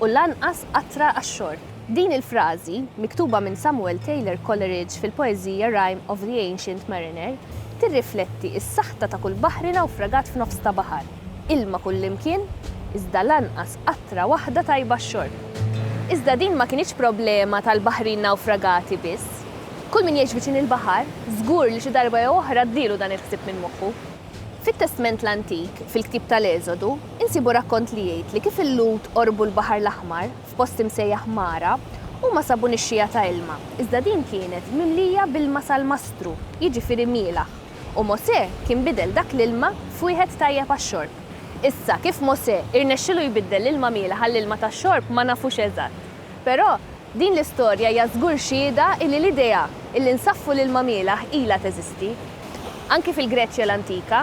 u lanqas qatra għax-xorb. Din il-frażi, miktuba minn Samuel Taylor Coleridge fil-poeżija Rime of the Ancient Mariner, tirrifletti s-saħta ta' kull baħri nawfragat f'nofs ta' baħar, ilma kullimkien, iżda lanqas qatra waħda tajba għax-xorb. Iżda din ma kinitx problema tal-baħrin nawfragati biss. Kull min jgħix viċin il-baħar, żgur li xi darba jew oħra għaddielu dan il-ħsieb minn moħħu. Fit-Testment l-Antik, fil-ktieb tal-Eżodu, insibu rakkont li jgħid li kif il-Lhud qorbu l-Baħar l-Aħmar, f'post imsejjaħ Mara, huma sabu nixxiegħa ta' ilma, iżda din kienet mimlija b'ilma salmastru, jiġifieri mielaħ, u Mosè kien bidel dak l-ilma f'wieħed tajjeb għax-xorb. Issa, kif Mosè irnexxielu jbiddel l-ilma mielaħ għall-ilma tax-xorb ma nafux eżatt. Però, din l-istorja hija żgur xhieda illi l-idea illi nsaffu l-ilma mielgħ ilha teżisti. Anki fil-Greċja l-antika,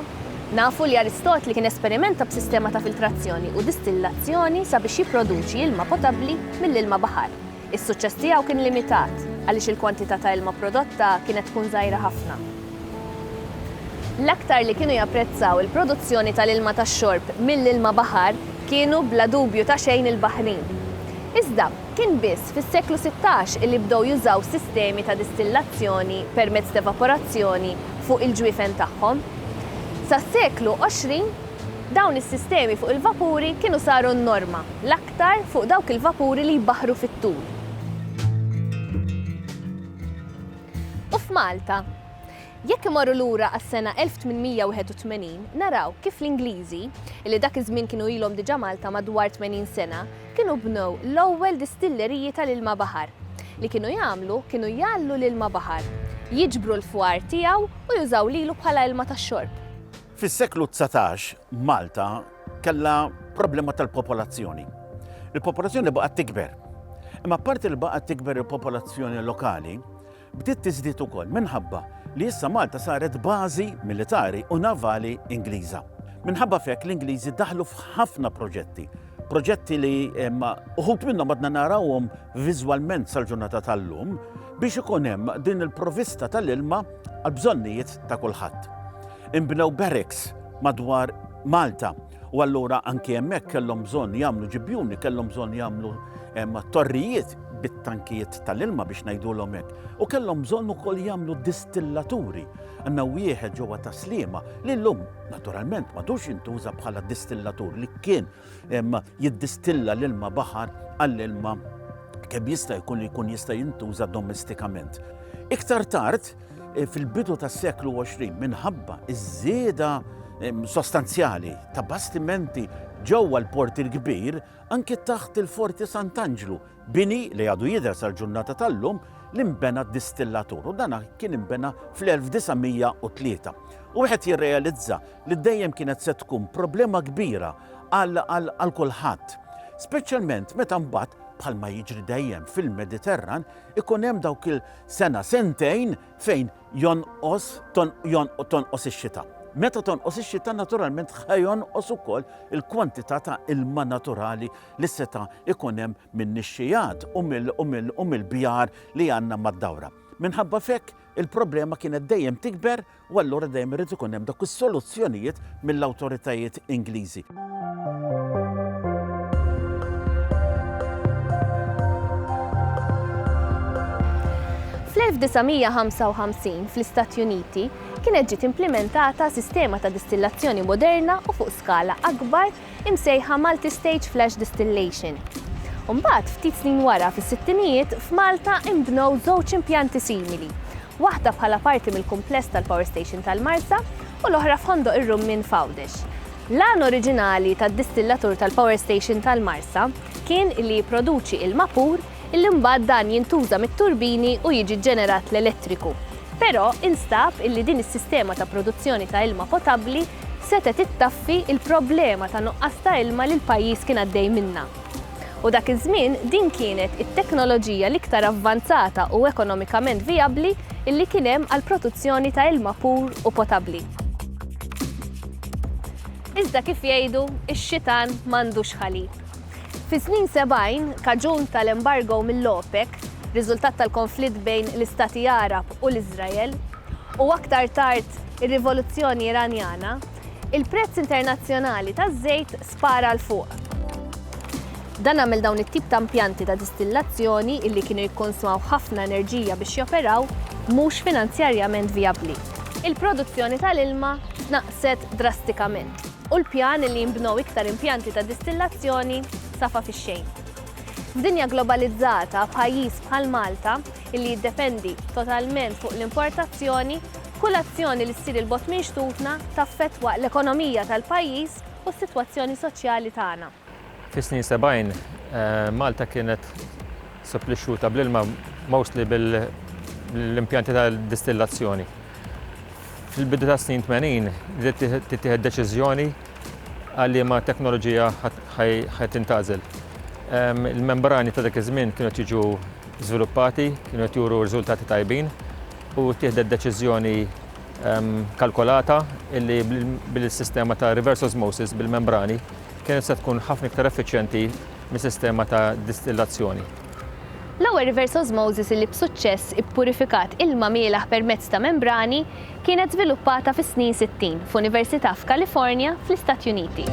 nafu li Aristotli kien esperimenta b'sistema ta' filtrazzjoni u distillazzjoni sabiex jipproduċi ilma potabbli mill-ilma baħar. Is-suċċess tiegħu kien limitat, għaliex il-kwantità ta' ilma prodotta kienet tkun żgħira ħafna. L-aktar li kienu japprezzaw il-produzzjoni tal-ilma tax-xorb mill-ilma baħar kienu bla dubju ta' xejn il-Baħrin. Iżda, kien biss fis-seklu sittax li bdew jużaw sistemi ta' distillazzjoni permezz t'evaporazzjoni fuq il-ġwiefen tagħhom. Sas-seklu għoxrin, dawn is-sistemi fuq il-vapuri kienu saru n-norma, l-aktar fuq dawk il-vapuri li jbaħħru fit-tul. U f'Malta? Jekk imorru lura għas-sena 1881, naraw kif l-Ingliżi, li dak iż-żmien kienu ilhom diġà Malta madwar tmenin sena, kienu bnew l-ewwel distilleriji tal-ilma baħar. Li kienu jagħmlu kienu jgħalllu l-ilma baħar, jiġbru l-fwar tiegħu u jużaw lilu bħala ilma tax-xorb. Fis-seklu dsatax, Malta Kellha problema tal-popolazzjoni. Il-popolazzjoni baqgħet tikber. Imma apparti li baqgħet tikber il-popolazzjoni lokali, bdiet tiżdied ukoll minħabba li issa Malta saret bażi militari u navali Ingliża. Minħabba fek l-Ingliżi daħlu f'ħafna proġetti. Proġetti li uħut minnhom għadna narawhom viżwalment sal-ġurnata tal-lum biex ikun hemm din il-provista tal-ilma għal bżonnijiet ta' kulħadd. Imbnew barracks madwar Malta u allura anki hemmhekk kellhom bżonn jagħmlu ġibjuni, kellhom bżonn jagħmlu torrijiet bit-tankijiet tal-ilma biex ngħidulhom hekk. U kellhom bżonn ukoll jagħmlu distillaturi. Għandna wieħed ġewwa ta' Sliema li llum naturalment m'għadux jintuża bħala distillatur li kien jiddistilla l-ilma baħar għall-ilma kemm jista' jkun li jkun jista' jintuża domestikament. Iktar tard, eh, fil-bidu tas-seklu 20, minħabba iż-żieda sostanzjali ta' bastimenti ġewwa l-Port il-Kbir, anki taħt il-Forti Sant'Anġlu, bini li għadu jidher sal-ġurnata tal-lum li nbena distillatur u dana kien imbena fl-1903. U wieħed jirrealizza li dejjem kienet se tkun problema kbira għal kulħadd. Speċjalment meta mbagħad bħalma jiġri dejjem fil-Mediterran ikun hemm dawk il-sena sentejn fejn jonqos tonqos ix-xita. Meta tonqos ix-xita naturalment ħajonqos ukoll il-kwantità ta' ilma naturali li seta' ikun hemm min-nixxijat u mill-bjar li għandna mad-dawra. Minħabba fekk il-problema kienet dejjem tikber u allura dejjem irid ikun hemm dawk is-soluzzjonijiet mill-awtoritajiet Ingliżi. Fl-1955, fl-Istati Uniti, kienet ġiet implimentata sistema ta' distillazzjoni moderna u fuq skala akbar imsejħa Malti Stage Flash Distillation. U mbagħad, ftit snin wara, fis-sittinijiet, f'Malta inbnew żewġ impjanti simili, waħda bħala parti mill-kumpless tal-Power Station tal-Marsa u l-oħra f'Ħondoq ir-Rummien f'Għawdex. L-għan oriġinali tad-distillatur tal-Power Station tal-Marsa kien li jipproduċi ilma pur illi mbagħad dan jintuża mit-turbini u jiġi ġġenerat l-elettriku. Però instab illi din is-sistema ta' produzzjoni ta' ilma potabbli setgħet ittaffi l-problema ta' nuqqas ta' ilma li l-pajjiż kien għaddej minnha. U dak iż-żmien din kienet it-teknoloġija l-iktar avvanzata u ekonomikament vijabbli illi kien hemm għall-protuzzjoni ta' ilma pur u potabbli. Iżda kif jgħidu, ix-xitan m'għandux ħalib. Fis-snin sebgħin, kaġun tal-embargo mill-OPEC, riżultat tal-konflitt bejn l-Istati Għarab u l-Iżrael, u aktar tard ir-Rivoluzzjoni Iranjana, il-prezz internazzjonali taż-żejt spara 'l fuq. Dan għamel dawn it-tip ta' impjanti ta' distillazzjoni, li kienu jikkonsmaw ħafna enerġija biex joperaw, mhux finanzjarjament vijabbli. Il-produzzjoni tal-ilma tnaqqset drastikament. u l-pjan li jinbnew iktar impjanti ta' distillazzjoni safa fix-xejn. F'dinja globalizzata, pajjiż bħal Malta, li jiddependi totalment fuq l-importazzjoni, kull azzjoni li ssir 'il bogħod minn xtutna taffettwa l-ekonomija tal-pajjiż u s-sitwazzjoni soċjali tagħna. Fis-snin sebgħin, Malta kienet supplixxuta bl-ilma mostly bl-impjanti ta' distillazzjoni. Fil-bidu tas-snin tmenin bdiet tittieħed deċiżjoni għal liema teknoloġija ħa tintgħażel. Il-membrani ta' dak iż-żmien kienu qed jiġu żviluppati, kienu qed juru riżultati tajbin u ttieħdet deċiżjoni kalkolata li bil-sistema ta' reverse osmosis bil-membrani, Kienet se tkun ħafna iktar effiċjenti mis-sistema ta' distillazzjoni. L-ewwel reverse osmosis li b'suċċess ippurifikat ilma mielaħ permezz ta' membrani kienet żviluppata fis-snin sittin f'università f'Kalifornja, fl-Istati Uniti.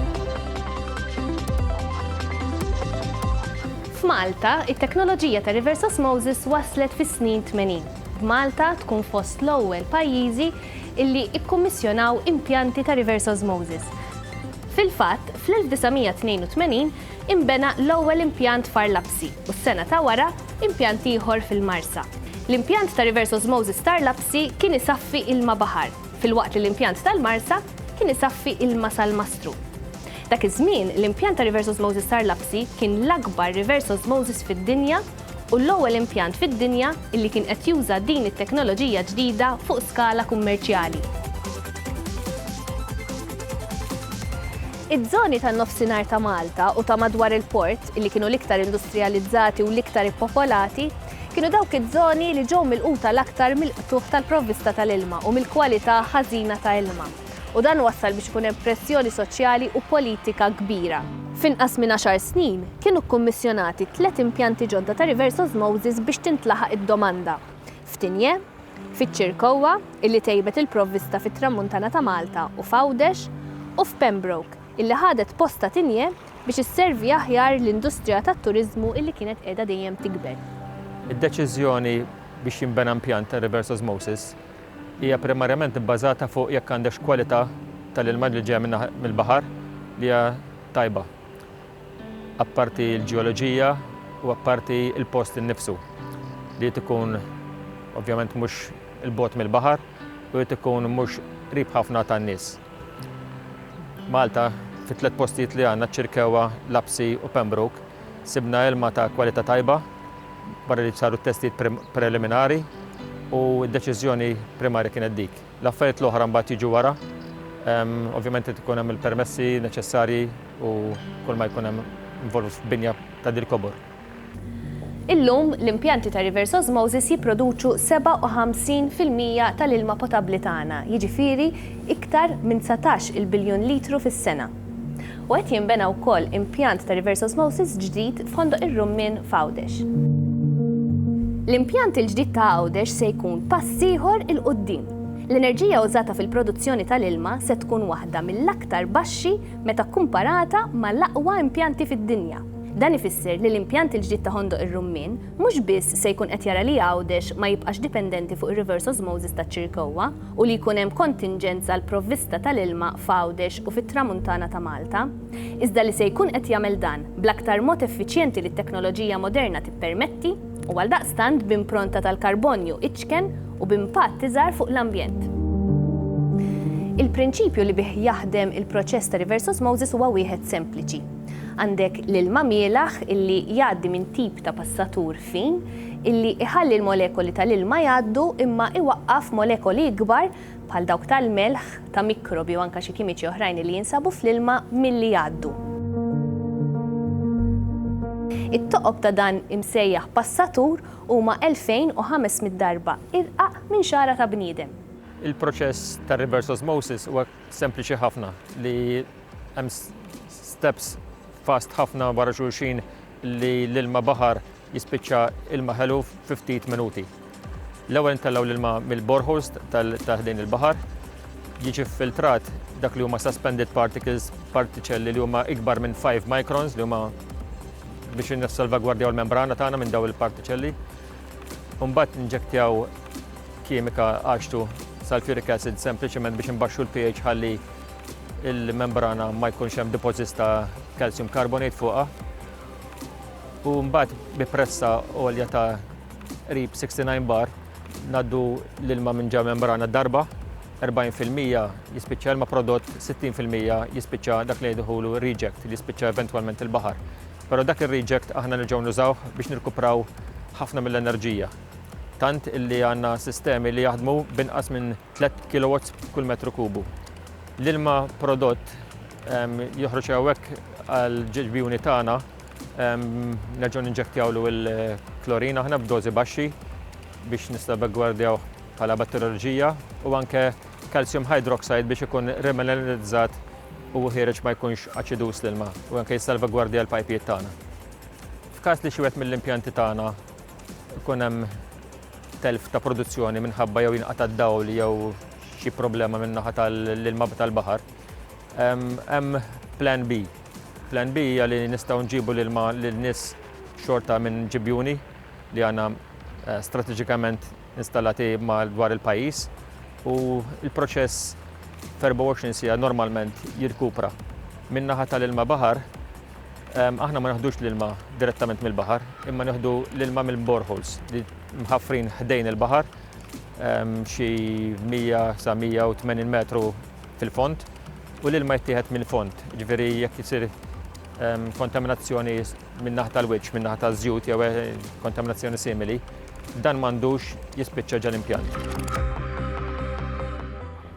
F'Malta, it-teknoloġija ta' reverse osmosis waslet fis-snin tmenin, b'Malta tkun fost l-ewwel pajjiżi li kkummissjonaw impjanti ta' reverse osmosis. Fil-fatt, fl-1982 inbena l-ewwel impjant f'Għar Lapsi u s-sena ta' wara, impjant ieħor fil-Marsa. L-impjant ta' Reverse Osmosis t'Għar Lapsi kien isaffi ilma baħar, filwaqt li l-impjant tal-Marsa kien isaffi ilma salmastru. Dak iż-żmien, l-impjant ta' Reverse Osmosis t'Għar Lapsi kien l-akbar reverse osmosis fid-dinja u l-ewwel impjant fid-dinja li kien qed juża din it-teknoloġija ġdida fuq skala kummerċjali. Iż-żoni tan-Nofsinhar ta' Malta u ta' madwar il-port, li kienu l-iktar industrijalizzati u l-iktar ippopolati, kienu dawk iż-żoni li ġew milquta l-aktar mill-qtugħ tal-provvista tal-ilma u mill-kwalità ħażina ta' ilma. u dan wassal biex ikun hemm pressjoni soċjali u politika kbira. F'inqas minn għaxar snin, kienu kkummissjonati tliet impjanti ġodda ta' reverse osmosis biex tintlaħaq id-domanda, f'Tignè, fiċ-Ċirkowwa, illi tejbet il-provvista fit-Tramuntana ta' Malta u f'Għawdex, u f'Pembroke, illi ħadet post ta' Tignè biex isservi aħjar l-industrija tat-turiżmu illi kienet qiegħda dejjem tikber. Id-deċiżjoni biex jinbena impjant ta' reverse osmosis hija primarjament ibbażata fuq jekk għandekx kwalità tal-ilma li ġejja mill-baħar li hija tajba, apparti l-ġeoloġija u apparti l-post innifsu li jrid ikun ovvjament mhux 'il bogħod mill-baħar u jrid ikun mhux qrib ħafna tan-nies. Malta, fit-tliet postijiet li għandna, Ċirkewwa, Lapsi u Pembroke, sibna ilma ta' kwalità tajba, barra li saru t-testijiet preliminari u d-deċiżjoni primarja kienet dik. L-affarijiet l-oħra mbagħad jiġu wara, ovvjament qed ikun hemm il-permessi neċessarji u kull ma jkun hemm involut f'binja ta' dil-kobor. Illum, l-impjanti ta' reverse osmosis jipproduċu 57 fil-mija tal-ilma potabbli tagħna, jiġifieri iktar minn dsatax-il biljun litru fis-sena. U qed jinbena wkoll impjant ta' reverse osmosis ġdid f'Ħondoq ir-Rummien f'Għawdex. L-impjant il-ġdid ta' Għawdex se jkun pass ieħor 'il quddiem. L-enerġija użata fil-produzzjoni tal-ilma se tkun waħda mill-aktar baxxi meta kkumparata mal-aqwa impjanti fid-dinja. Dan ifisser li l-impjant il-ġdid ta' Ħondoq ir-Rummien mhux biss se jkun qed jara li Għawdex ma jibqax dipendenti fuq ir-reverse osmosis taċ-Ċirkewwa, u li jkun hemm kontinġenz għall-provvista tal-ilma f'Għawdex u fit-Tramuntana ta' Malta, iżda li se jkun qed jagħmel dan bl-aktar mod effiċjenti li t-teknoloġija moderna tippermetti u għaldaqstant b'impronta tal-karbonju iċken u b'impatt iżgħar fuq l-ambjent. Il-prinċipju li bih jaħdem il-proċess ta' reverse osmosis huwa wieħed sempliċi. Għandek l-ilma mielaħ illi jgħaddi minn tip ta' passatur fin, illi iħalli l-molekoli tal-ilma jgħaddu imma iwaqqaf molekoli ikbar, bħal dawk tal-melħ, ta' mikrobi u anke xi kimiċi oħrajn illi jinsabu fl-ilma, milli jgħaddu. It-toqob ta' dan imsejjaħ passatur huma 2,500 darba irqaq minn xagħra ta' bniedem. Il-proċess ta' reverse osmosis huwa sempliċi ħafna li hemm steps fast ħafna wara xulxin li l-ilma baħar jispiċċa ilma ħelu fi ftit minuti. L-ewwel intellgħu l-ilma mill-boreholes ta' ħdejn il-baħar, jiġi ffiltrat dak li huma suspended particles, partiċelli li huma ikbar minn 5 microns li huma biex nissalvagwardjaw l-membrana tagħna minn daw il-partiċelli. Mbagħad inġektjaw kimika għaxtu sulfuric acid sempliċement biex imbaxxu l-pH ħalli il-membrana ma jkunx hemm deposits ta' calcium carbonate fuqha. U mbagħad bi pressa għolja ta' qrib 69 bar naddu l-ilma minn ġa membrana darba 40% jispiċċa ilma prodott, 60% jispiċċa dak li jidħulu reject li jispiċċa eventwalment il-baħar. Però dak ir-reject aħna nerġgħu nużawh biex nirkupraw ħafna mill-enerġija. Tant illi għandna sistemi li jaħdmu binqas minn 3 kilowatts kull metru kubu. L-ilma prodott joħroġ hawnhekk għal ġiġbjuni tagħna nerġgħu ninġektjawlu l-klorin aħna b'dożi baxxi biex nistabegwardjaw bħala batterioloġija u anke calcium hydroxide biex ikun remineralizzat u ħiereġ ma jkunx aċidus l-ilma u anke jissalvagwardja l-pajpijiet tagħna. F'każ li xi wieħed mill-impjanti tagħna ikun hemm telf ta' produzzjoni minħabba jew jinqata' d-dawl jew xi problema min-naħa tal-ilma tal-baħar, hemm plan B. Plan B hija li nistgħu nġibu l-ilma lil nies xorta minn ġibjuni li għandna eh, strateġikament installati dwar il-pajjiż u l-proċess f'24 sija normalment jirkupra. Min-naħa tal-ilma baħar Aħna ma neħdux l-ilma direttament mill-baħar, imma neħdu l-ilma mill-boreholes li mħaffrin ħdejn il-baħar xi 100 sa 180 metru fil-fond u l-ilma jittieħed mill-fond. Ġifieri jekk isir kontaminazzjoni min-naħa tal-wiċċ, min-naħa taż-żjut jew eh, kontaminazzjoni simili, dan m'għandux jispiċċa ġal-impjant.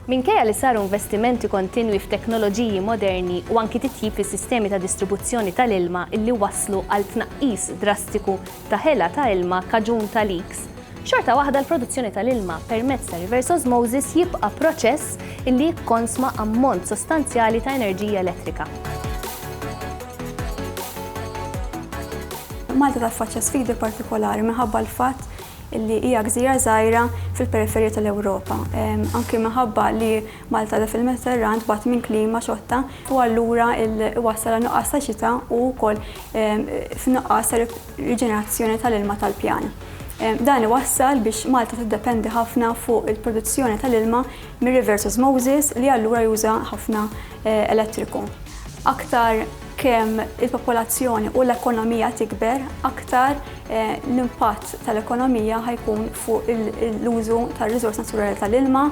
Minkejja li saru investimenti kontinwi f'teknoloġiji moderni u anki titjib fis-sistemi ta' distribuzzjoni tal-ilma li wasslu għal tnaqqis drastiku ta' ħela ta' ilma kaġun ta' leaks, xorta waħda l-produzzjoni tal-ilma permezz ta' reverse osmosis jibqa' proċess li jikkonsma ammont sostanzjali ta' enerġija elettrika. Malta taffaċċja sfidi partikolari minħabba l-fatt li hija gżira żgħira fil-periferija tal-Ewropa. Anki minħabba li Malta qiegħda fil-Mediterran tbati minn klima xotta u allura iwassal għal nuqqas ta' xita u wkoll f'nuqqas ta' riġenerazzjoni tal-ilma tal-pjan. Dan iwassal biex Malta tiddependi ħafna fuq il-produzzjoni tal-ilma mir-rivers osmosis li allura juża ħafna elettriku. Aktar. Kemm il-popolazzjoni u l-ekonomija tikber, aktar l-impatt tal-ekonomija ħa jkun fuq l-użu tar-riżors naturali tal-ilma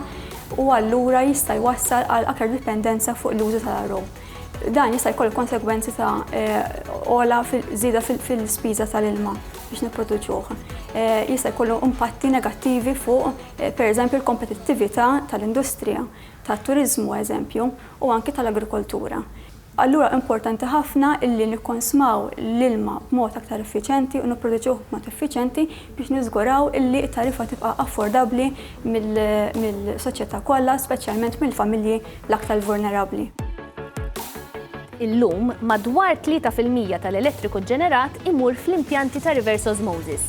u allura jista' jwassal għal aktar dipendenza fuq l-użu tal-RO. Dan jista' jkollu konsegwenzi ta' għola żieda fil-spiża tal-ilma biex nipproduċuh. Jista' jkollu impatti negattivi fuq, pereżempju, l-kompetittività tal-industrija, tat-turiżmu, eżempju, u anki tal-agrikoltura. Allura importanti ħafna illi nikkonsmaw l-ilma b'mod aktar effiċjenti u nipproduċuh b'mod effiċjenti biex niżguraw illi t-tariffa tibqa' affordabbli mill-soċjetà kollha, speċjalment mill-familji l-aktar vulnerabbli. Illum, madwar tlieta fil-mija tal-elettriku ġġenerat imur fl-impjanti ta' reverse osmosis.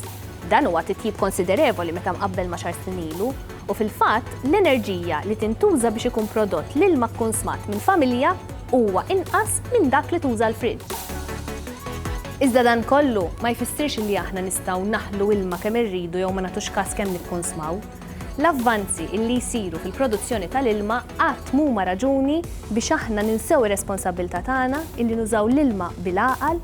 Dan huwa titjib konsiderevoli meta mqabbel ma' xahar snin ilu, U fil-fatt, l-enerġija li tintuża biex ikun prodott l-ilma kkunsmat minn familja huwa inqas minn dak li tuża l-friġġ. Iżda dan kollu ma jfissirx li aħna nistgħu naħlu ilma kemm irridu jew ma nagħtux kas kemm nikkunsmaw. L-avvanzi li jsiru fil-produzzjoni tal-ilma qatt m'huma raġuni biex aħna ninsew ir-responsabbiltà tagħna li nużaw l-ilma bil-għaqal